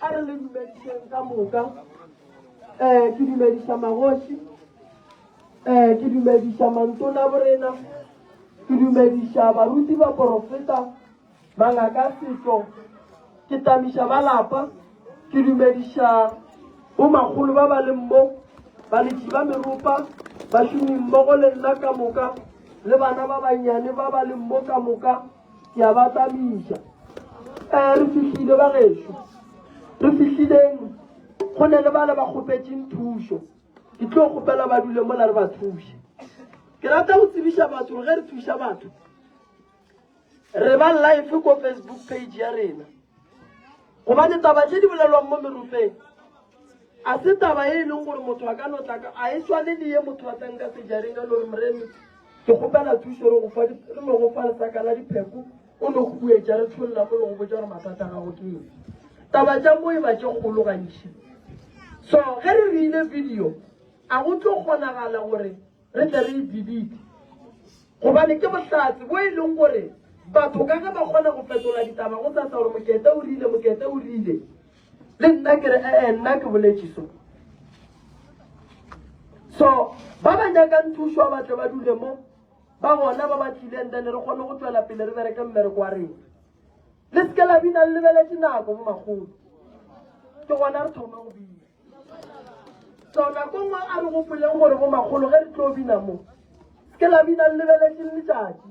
A re le dumedišeng ka moka. Eh, ke dumediša magoši. Eh, ke dumediša mantona borena. Ke dumediša baruti ba porofeta, mangaka setlo. Ke tamiša ba lapa. Ke dumediša bomakgolo ba ba leng mo, baletši ba meropa, bašomi mmogo le nna ka moka, le bana ba bannyane ba ba leng mo ka moka. Ke a ba tlamiša. Ee, re fihlile, bagešo. Re fihlileng. Go ne le bale ba kgopetšeng thušo. Ke tlo kgopela ba dule mola re ba thuše. Ke rata go tsebiša batho gore ge re thuša batho, re ba life ko Facebook page ya rena. Gobane taba tše di bolelwang mo merofeng A se taba e e leng gore motho a ka no tla ka, a e swane le ye motho a tlang ka sejareng a no re, Moremi, ke kgopela thušo re go fa, re no go fa lesaka la dipheko, o no huetša, re tšholla mo le go botša gore mathata a gago ke eng. Taba tša mo e ba tše kgolo gantši. So ge re reile video, a go tlo kgonagala gore Re tle re e delete gobane ke bohlatse bo e leng gore batho ka ge ba kgona go fetola ditaba go tsatsa gore Mokete o rile, Mokete o rile. Le nna ke re ee, nna ke boletše so. So ba ba nyakang thušo ba tle ba dule mo ba gona ba ba tlileng then re kgone go tswela pele re bereke mmereko wa rena. Le seke la bina le lebeletše nako bo magolo. Ke gona re thoma go bina. So nako nngwe a re gopoleng gore go makgolo ge re tlo bina mo ke la bina le lebeletše le letšatši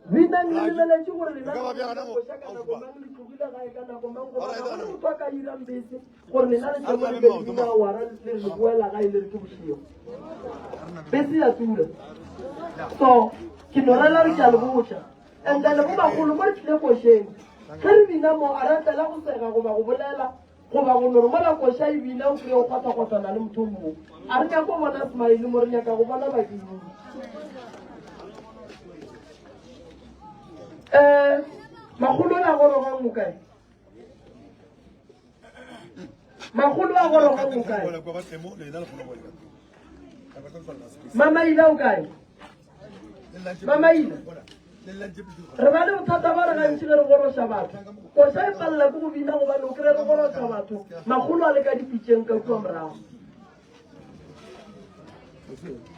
bina le lebeletše gore lenaoša ka nako mang le tlogile gae ka nako mang goba ga gone motho a ka irang bese gore lena le tlomo le be bina wara le re le boela gae le re ke bošego bese ya tura so ke norela re ke a le botša and then go bagolo mo re tlile košeng ge re bina mo a ratlela go sega goba go bolela Goba go no re mola koša e bina o kry o kgotha-kgothana le motho mmo. A re nyako bona smile mo re nyaka go bona badimo. Um magolo a gorogang mo kae? Magolo a gorogang mo kae? Mama ila o kae? mamaina re ba le bothata ba re gantši le re goroša batho koša e palela ke go bina gobane o kry re goroša batho magolo a le ka dipitseng ka kua morago Thank you.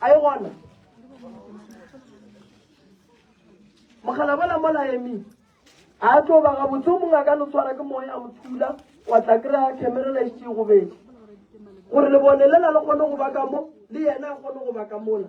a e gona mogala bola mola emi a tlo ba gabotse o mongwe a ka no tshwara ke moya a mo thula wa tla kry-a camerela e šee gobedi gore lebone lela le kgone go ba ka mo le yena a kgone go ba ka mola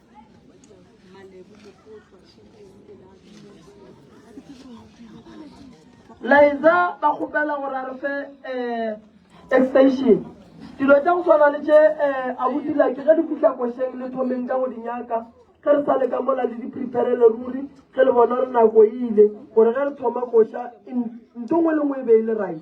laetsa ba kgopela gore a re fe um extension dilo tša go tshwana le tše um a botila ke ge di fitlha košeng le thomeng ka go di nyaka ge re sa le ka mola le di-preparele ruri ge le bona re nako e ile gore ge re thoma koša nto ngwe le ngwe e be e le right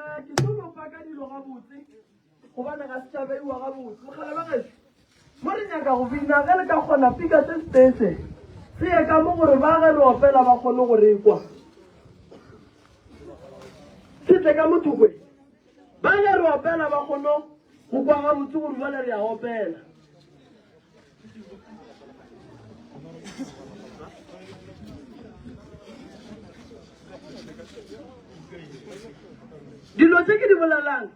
Eh, ke tlo lopa ka dilo gabotse gobane ga setšabeiwa gabotse mogala ba geso mo re nyaka go bina ge le ka kgona fika se setese se ye ka mo gore ba ge re opela ba kgone go rekwa se tle ka mothokwe ba ge re opela ba kgone go kwa gabotse gore jale re a opela dilo tse ke di bolelang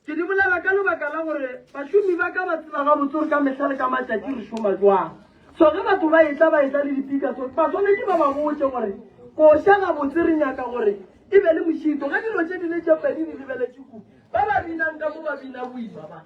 ke di bolela ka lebaka la gore bašomi ba ka ba tseba gabotse gore ka mehla le ka matšatši re šoma jwang so ge batho ba etla ba etla le dipika so ba swanetše ba ba botse gore koša gabotse re nyaka gore e be le mošito ge dilo tše di le tše pedi di lebeletše ku ba ba binang ka mo ba bina boima ba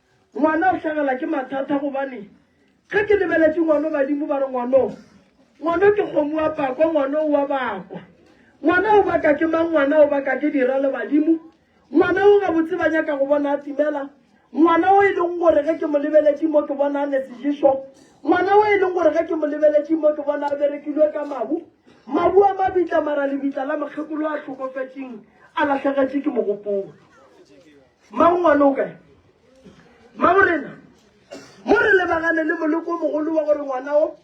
Ngwana o hlagela ke mathata gobane ge ke lebeletše ngwano badimo ba re ngwano ngwano ke kgomo wa pakwa ngwano wa bakwa ngwana o baka ke mang ngwana o baka ke dira le badimo ngwana o gabotse ba nyaka go bona a timela ngwana o e leng gore ge ke mo lebeletše mo ke bona a ne sejeso ngwana o e leng gore ge ke mo lebeletše mo ke bona a berekilwe ka mabu mabu a mabitla mara lebitla la mokgekolo a tlhokofetseng a latlhegetše ke mogopolo Mmago ngwana o kae? Mmago rena mo re lebagane le moleko o mogolo wa gore ngwana o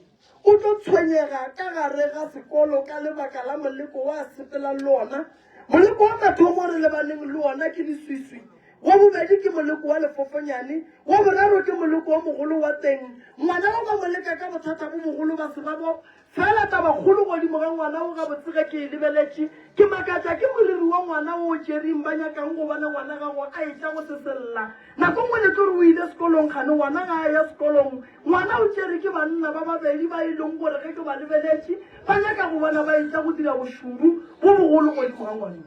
o tlo tshwenyega ka gare ga sekolo ka lebaka la moleko wa sepelang le ona. Moleko wa mathomo re lebaneng le ona ke diswiswi wa bobedi ke moleko wa lefofonyane wa boraro ke moleko wa mogolo wa teng ngwana o ba moleka ka bothata bo bogolo ba sebabo Fela tabakgolo godimo ga ngwana wo gabotse ge ke e lebeletše, ke makatša ke moriri wa ngwana wo o tšereng ba nyakang go bona ngwana gago a etša go se sella. Nako nngwe le tlo re o ile sekolong kgane ngwana ga a ya sekolong, ngwana o tšere ke banna ba babedi ba e leng gore ge ke ba lebeletše ba nyaka go bona ba etša go dira bošoro bo bogolo godimo ga ngwana.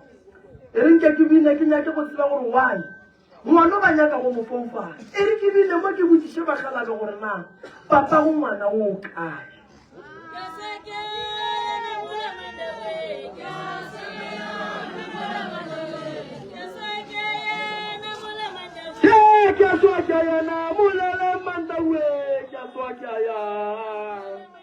E re nke ke bine ke nyake go tseba gore why. Gona ba nyaka go mo foufala. E re ke bile mo ke botšiše bakgalabje gore na papago ngwana o kae. Ke a swa ke a yana moleleng mantawee ke a swa ke a ya.